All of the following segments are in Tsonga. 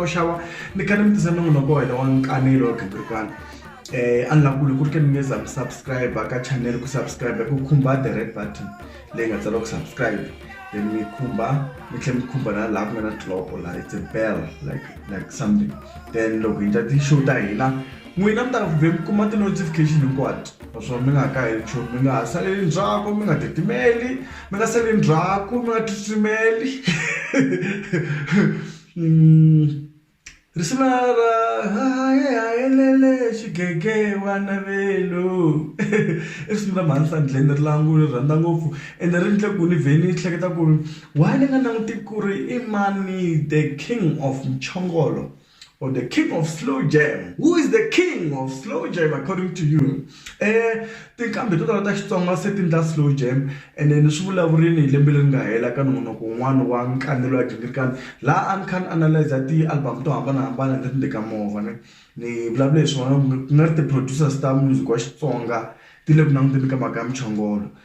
xava mi kale mi tisa nongonoko wa hina wa nkanelo wa gingirikwana um eh, a ni la kule ku ri ke ni nge za mi subscribe ka channel ku subscribe ku khumba the red button leyi nga tsariwa ku subscribe then mi khumba mi tlhela mi khumba na laha ku nga na tiloko laha it's a bell like like something then loko hi ta ti-show ta hina n'wina mi ta vhe mi kuma ti-notification hinkwato naswona mi nga ha kaheli nchumu mi nga ha saleli ndzhaku mi nga titimeli mi nga saleli ndzhaku mi nga tsutsumeli Risuna ra haye hayelele xigege wa navelo i risimu ra Mahansi Andleni ri lava ni ri rhandza ngopfu ende ri endle ku ni vhe ni hleketa ku ri why ni nga languti ku ri i mani the king of mchongolo or the king of slow jam who is the king of slow jam according to you. Tinqambi to tala ta Xitsonga se ti endla slow jam ene ni swi vulavurile hi lembe leri nga hela ka nongonoko wun'wana wa Nkanelo wa Ghingirikani laha a ni kha ni analyser ti-album to hambanahambana leti ni teka movha ni ni vulavule hi swona ku nga ri ti-producers ta music wa Xitsonga ti le ku languteni ka mhaka ya muchongolo.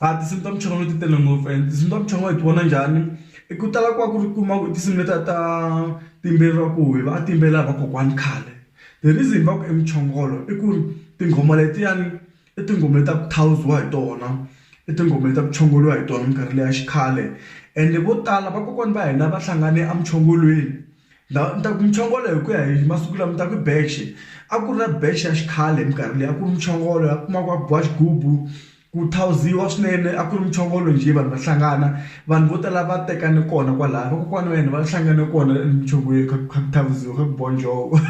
A tinsimu ta muchongolo ti tele ngopfu and tinsimu ta muchongolo hi ti vona njhani i ku tala ku va ku ri kuma ku tinsimu letiya ta ti yimbeleriwa ku hi va a ti yimbelela hi vakokwani khale the reason va ku i muchongolo i ku ri tinghoma letiyani i tinghoma ta ku thawuziwa hi tona i tinghoma leti a ku chongoriwa hi tona minkarhi leyi ya xikhale ende vo tala vakokwana va hina va hlangane emuchongolweni. La ni ta ku muchongolo hi ku ya hi masiku lama ni ta ku i beche a ku ri na beche ya xikhale hi minkarhi leyi a ku ri muchongolo laha u kumaka a ku biwa xigubu ku thawuziwa swinene a ku ri muchongolo njhe vanhu va hlangana vanhu vo tala va tekane kona kwalaya vakokwana wa hina va hlangane kona emuchongolweni kha ku kha ku thawuziwa kha ku biwa njhovo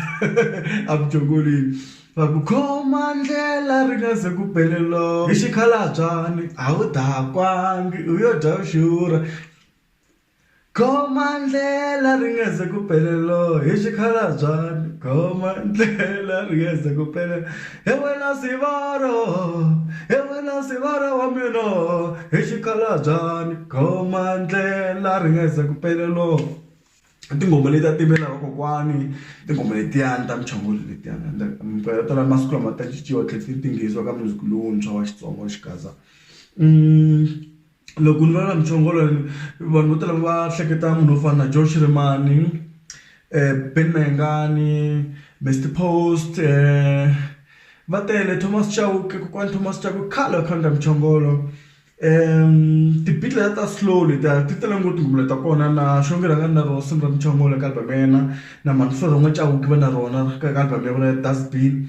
a muchongolweni va ku khoma ndlela ri nga ze ku bele loko hi xikhalabyani a wu dakwangi u yo dya u xurha. Goma ndlela ri nga ze ku pele lo hi xikhalabyani goma ndlela ri nga ze ku pele he wena sivara he wena sivara wa mina hi xikhalabyani goma ndlela ri nga ze ku pele lo i tinghoma leti a ti yimbelela hi vakokwani i tinghoma letiyani ta muchongolo letiyani and minkarhi yo tala masiku lama ta cinciwa tlhe ti tinghenisiwa ka music lowuntshwa wa Xitsonga wa xigaza . loko ni vulavula muchongolo vanhu vo tala va hleketa munhu wo fana na Joe Shirimani, Ben Mayengani, Mister Post va tele Thomas Chauke kokwani Thomas Chauke i khale a kha a endla muchongolo. Ti-beat letiya ta slow letiya ti tele ngopfu tinghoma leti ta kona na Xongi rhanga ni na rona risimu ra muchongolo eka album ya yena na Mansolo Chauke va na rona ka album ya vona ya Dust Bin.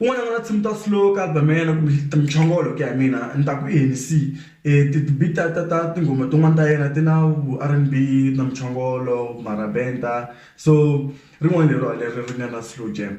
Un'wana n'wana tshimu ta slow ka album ya yena kumbe muchongolo ku ya hi mina ni ta ku i Hennessy ti-beat ta ta ta tinghoma tin'wani ta yena ti na vu R_N_B na muchongolo marabenda so rin'wana leriwa leri ri nga na slow jam.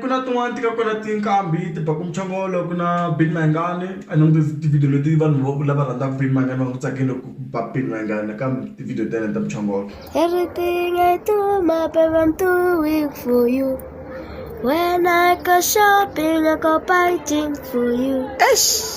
ku na tin'wani ti nga kona tinqambi ti baku muchongolo ku na Benny Mayengani a ni languti ti-video leti vanhu vo lava rhandzaka Benny Mayengani va nga ku tsakeli ku ba Benny Mayengani nakambe ti-video ta yena ta muchongolo Everything I do, my baby, I'm doing for you. When I go shopping, I go buy things for you.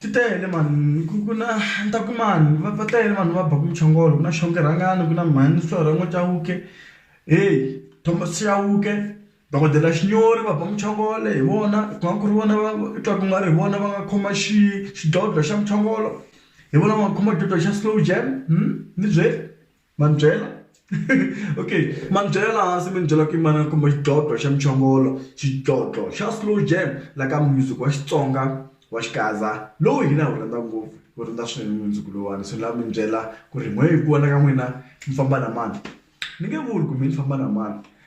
ti tele mhani ku ku na ni ta ku mani va va tele vanhu va baka muchongolo ku na xonga rhangani ku na mhani Solorama Chauke heyi Thomas Chauke dokodela Xinyori va ba muchongolo hi vona ku nga ku ri vona va i twa ku nga ri hi vona va nga khoma xi xidlodlo xa muchongolo hi vona va nga khoma xidlodlo xa Slow Jam ni byeli. ma ni byela okay ma ni byela laha hansi mi ni byela ku yimana ni kuma xidlodlo xa muchongolo xidlodlo xa slow jam la ka music wa xitsonga wa xikaza lowu hina hi wu rhandza ngopfu wu rhandza swinene music lowuwani so ni lava mi ni byela ku ri n'we hi ku vona ka n'wina mi famba na mani ni nge vuli ku mi ni famba na mani.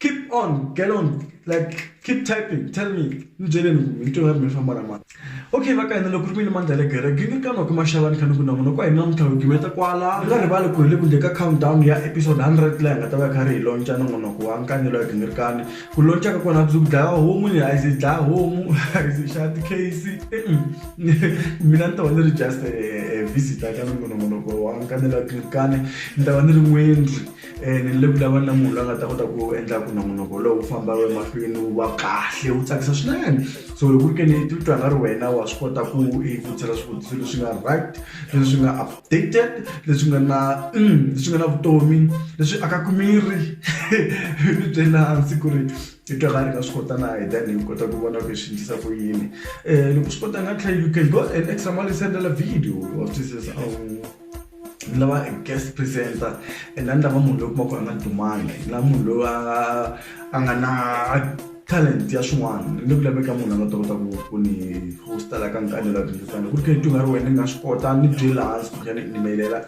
Keep on get on like keep typing tell me ni byeleni ku rito ra mina ri famba ra mani okay va ka hina loko ri mi ni mandla le gere gingikanwa ku maxavani khani ku na munhu kwa hina namuntlha wigimeta kwala u nga rivali ku hi le ku ndle ka countdown ya episode 100 laha hi nga ta va hi kha ri hi lonca nongonoko wa nkanyelo ya gingirikani ku lonca ka kona byi ku dlaya homu ni a yi dlaya homu a yi xava tikheyisi mina ni ta va ni ri just visitor ka nongonoko wa nkanyelo ya gingirikani ni ta va ni ri n'wendri ni le ku lavana na munhu loyi a nga ta kota ku endla ku nongonoko lowu famba wu emahlweni wu va kahle wu tsakisa swinene so loko ku ri ke ni ti twa nga ri wena wa swi kota ku i vutisela swivutiso leswi nga right leswi nga updated leswi nga na leswi nga na vutomi leswi akaku miri mi byela hansi ku ri i twa nga ri nga swi kota na hi then hi kota ku vona ku hi swi endlisa ku yini loko swi kota nga tlhela you can go an extra mile u sendela video wa swi twisisa . ni lava guest presenter and a ni lava munhu loyi kuma ku a nga dumanga ni lava munhu loyi a nga a nga na talent ya swin'wana ni ku laveka munhu a nga ta kota ku ku ni hosta la ka nkani la tindzisana ku ri khe ti nga ri wena ni nga swi kota ni byela hansi ku tlhela ni inimelela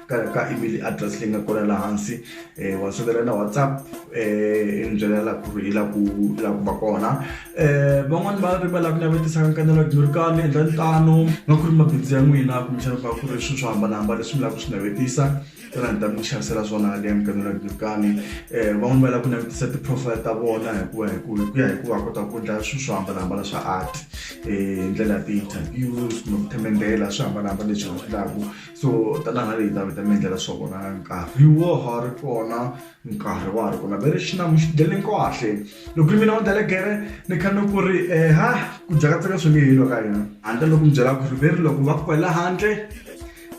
ka ka email address leyi nga kona la hansi um wa sendela na whatsapp um ni byela la ku ri hi la ku la ku va kona Eh, van'wani va ri va lava ku navetisa nkanelo dyurikani endlani tano nga ku ri mabindzu ya n'wina kumbexana va ku ri swilo swo hambanahambana leswi mi lava ku swi navetisa tona ni ta mi xavisela swona leya mkanelo dyurikani um eh, van'wani va lava ku navetisa ti-profile ta vona hikuva hi ku hi ku ya hi ku va kota ku endla swilo swo hambanahambana swa art um eh, hi ndlela ya ti-interviews kumbe ku themendela swi hambanahambana leswi va swi laku so tanahala leyi ta mi ta mi endlela swa vona nkarhi wo ha ri kona nkarhi wa ha ri kona very xilamu xi dele kahle loko ri mina wa delegere ni kha ni ku ri um ha ku dyakatseka swi nge helo ka yena handle loko mi byela ku ri very loko va ku kwela handle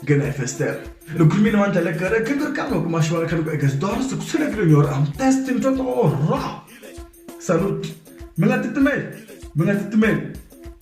nghena hi fester loko ri mina wa delegere khe ni ri kambe kuma xivana kha ni ku against doors ku tshelekile nyora am testing twa to ra salute mi nga titimeli mi nga titimeli